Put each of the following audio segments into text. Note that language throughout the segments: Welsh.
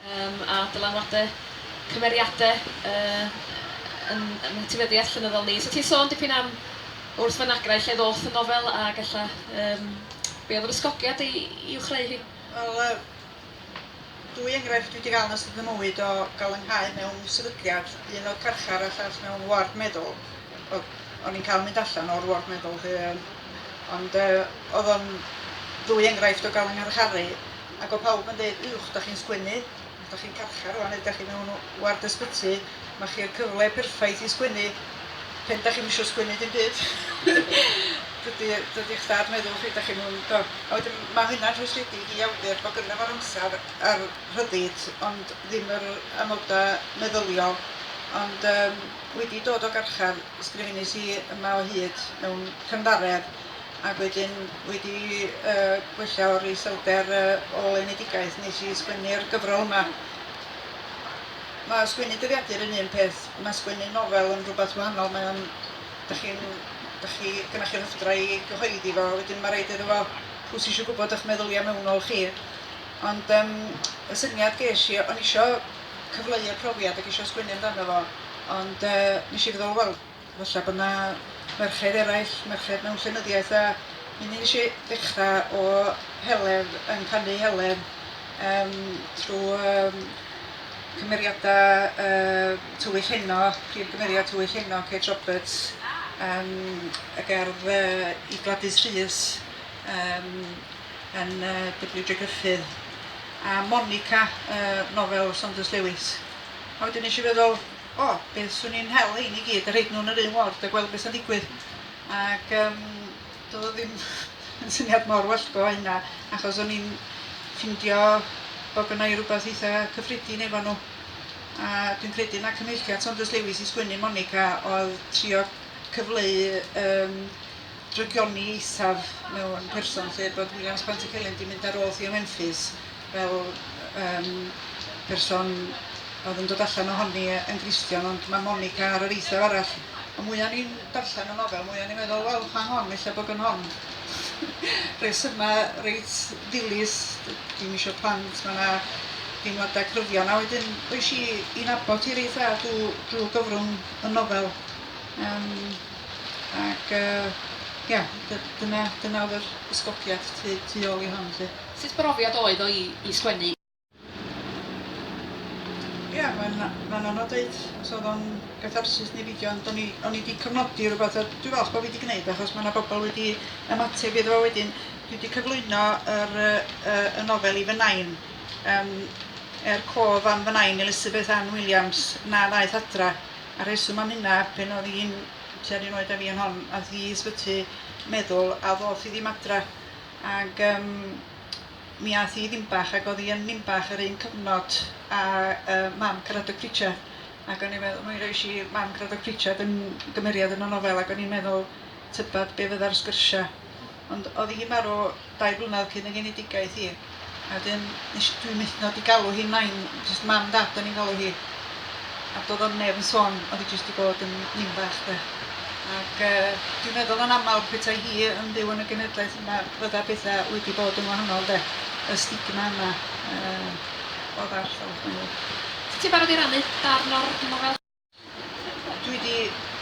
Yym a dylanwade cymeriade yy yn yn etifeddiaeth llenyddol ni. So ti'n sôn dipyn am wrth fynagrau lle ddoth y nofel ag ella yym be oedd yr ysgogiad i i'w chreu hi? Wel yy dwy enghraifft dwi di ga'l yn ystod fy mywyd o ga'l fy nghau mewn sefydliad, un o'dd carchar a llall mewn ward meddwl. Wel o'n i'n ca'l mynd allan o'r ward meddwl 'lly yym ond yy o'dd o'n ddwy enghraifft o ga'l fy ngharcharu. Ac o pawb yn deud uwch dach chi'n sgwennu, dach chi'n carchar rwan neu dach chi mewn ward ysbyty, ma chi'r cyfle perffaith i sgwennu pen dach chi'm isio sgwennu dim byd. dydy dydy eich dad meddwl chi dach chi'n mewn do. A wedyn ma hynna'n rhwystredig i awdur bod gynno fo'r amser a'r rhyddid ond ddim yr amoda meddyliol ond yym wedi dod o garchar ysgrifenus i yma o hyd mewn cynddaredd Ac wedyn wedi gwella o'r iselder ôl-enedigaeth nes i sgwennu'r gyfrol yma. Mae sgwennu dyddiadur yn un peth, mae sgwennu nofel yn rhywbeth wahanol, mae o'n... dach chi'n... dach chi... gynnoch chi'r hyfdra i gyhoeddi fo, wedyn mae raid iddo fo... pwy sy eisiau gwybod eich meddyliau mewnol chi? Ond yym y syniad ges i, o'n i isio cyfleu'r profiad ac isio sgwennu amdano fo, ond yy nes i feddwl wel... Falla bod 'na ferched eraill, merched mewn llenyddiaeth a mi nes i ddechra o Heledd yn canu Heledd yym trw yym cymeriada yy Tywyll Heno, prif gymeriad Tywyll Heno, Kate Roberts yym y gerdd yy i Gladys Rhys yym yn yy Double-you Dre Gruffydd a Monica yy nofel Saunders Lewis a wedyn nes i feddwl O, beth 'swn i'n hel hein i gyd a rhoid nhw yn yr un ward a gweld beth sy'n digwydd. Ac um, doedd o ddim yn syniad mor wellgo hynna, achos o'n i'n ffindio bod gynna i rhywbeth eitha cyffredin efo nhw. A dwi'n credu na cyfeilliad Saunders Lewis i sgwennu Monica oedd trio cyfleu um, drygioni eithaf mewn person lle bod Williams Pantycelyn di mynd ar ôl Theo Memphis fel yym person oedd yn dod allan ohoni yn Gristion ond mae Monica ar yr eithaf arall. Ond mwya o'n i'n darllen y nofel mwya o'n i'n meddwl wel pa hon ella bod yn hon rhesymau reit ddilys dim eisiau plant mae yna deimladau cryfion a wedyn oes i i nabod hi reit dda drwy, drwy gyfrwng y nofel um, ac uh, ia, dyna, dyna oedd yr ysgogiad tu, tu ôl i hon. Lle. Sut brofiad oedd o i sgwennu? Ia mae'n mae'n anodd deud os oedd o'n gatharsis neu beidio ond o'n i o'n i 'di cofnodi rwbath a dwi falch bo' fi 'di gneud achos ma' 'na bobl wedi ymateb iddo fo wedyn dwi 'di cyflwyno yr yy yy y nofel i fy nain yym er cof am fy nain Elizabeth Ann Williams na ddaeth adra a rheswm am hynna pan oedd hi'n tua'r un oed â fi yn hon ath hi i ysbyty meddwl a ddoth hi ddim adra Ac yym mi ath hi i Ninbach ac o'dd hi yn Ninbach yr un cyfnod a yy mam Caradog Pritchard ac o'n i'n meddwl mi rois i mam Caradog Pritchard yn gymeriad yn y nofel ac o'n i'n meddwl tybed be' fydda'r sgyrsia. Ond o'dd hi'n marw dau flynedd cyn ei genedigaeth hi. A wedyn nes i... Dwi'n methu dod i galw hi nain, jyst mam dad o'n i'n galw hi. A doedd o'm neb yn sôn, oedd hi jyst 'di bod yn nin bach de. Ac yy dwi'n meddwl yn aml petai hi yn byw yn y genedlaeth yma fydda pethau wedi bod yn wahanol de. Y stigma yna yy oedd ar llawr gwaelod. Ti'n barod i rannu darn o'r nofel? Dwi di...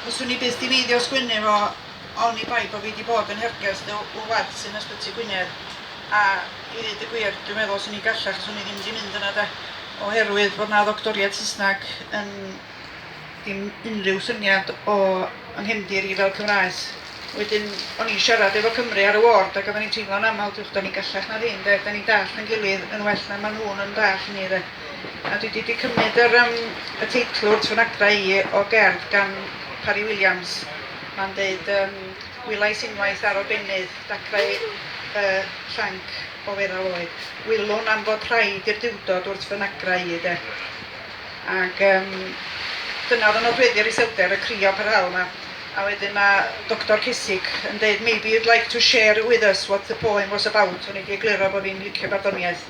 Fyswn i byth di feiddio o sgwennu fo oni bai bo fi di bod yn hergest y y ward sy'n Ysbyty Gwynedd a i ddeud y gwir dwi'n meddwl swn i'n gallach fyswn i ddim di mynd yna de oherwydd bod na ddoctoriad Saesneg yn dim unrhyw syniad o yng nghefndir i fel Cymraes. Wedyn o'n i'n siarad efo Cymru ar y ward ac oedden ni'n teimlo'n aml diwch da ni'n gallach na ddim de, da ni'n dallt yn gilydd yn well na maen nhw'n yn dallt ni de. A dwi 'di 'di cymryd yr yym y teitl wrth fy nagra i o gerdd gan Parry Williams. Ma'n deud yym Wylais unwaith ar obennydd dacrau y llanc o feddal oed. Wylwn am fod rhaid i'r Duwdod wrth fy nagra i de. Ac yym dyna oedd yn nodweddu'r iselder, y crio parhaol 'ma. A wedyn mae Doctor Cesig yn deud maybe you'd like to share with us what the poem was about. O'n i 'di egluro bod fi'n licio barddoniaeth.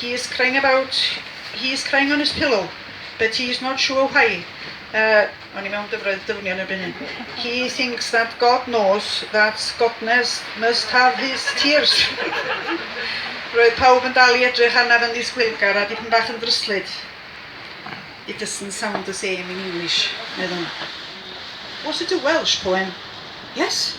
He is crying about He is crying on his pillow but he is not sure why O'n i mewn dyfroedd dyfnion erbyn hyn. He thinks that God knows that Godnes must have his tears. Roedd pawb yn dal i edrych arnaf yn ddisgwylgar a dipyn bach yn ddryslyd. It doesn't sound the same in English, meddwn. Was it a Welsh poem? Yes?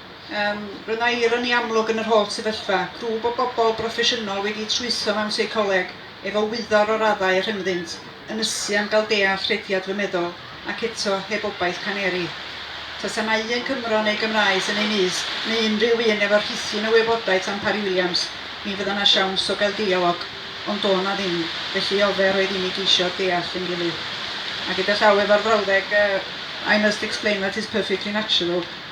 Yym, roedd yna ironi amlwg yn yr holl sefyllfa, grŵp o bobl broffesiynol wedi trwytho mewn seicoleg, efo wyddor o raddau a rhyngddynt, yn ysu am gael deall rhediad fy meddwl, ac eto, heb obaith caneri. Tasa 'na un Cymro neu Gymraes yn ei nyst, neu unrhyw un efo rhithyn o wybodaeth am Parry Williams, mi fydda 'na siawns o gael deialog, ond do' 'na ddim, felly ofer oedd i ni geisio deall ein gilydd. A gyda llaw efo'r frawddeg yy I must explain that is perfectly natural.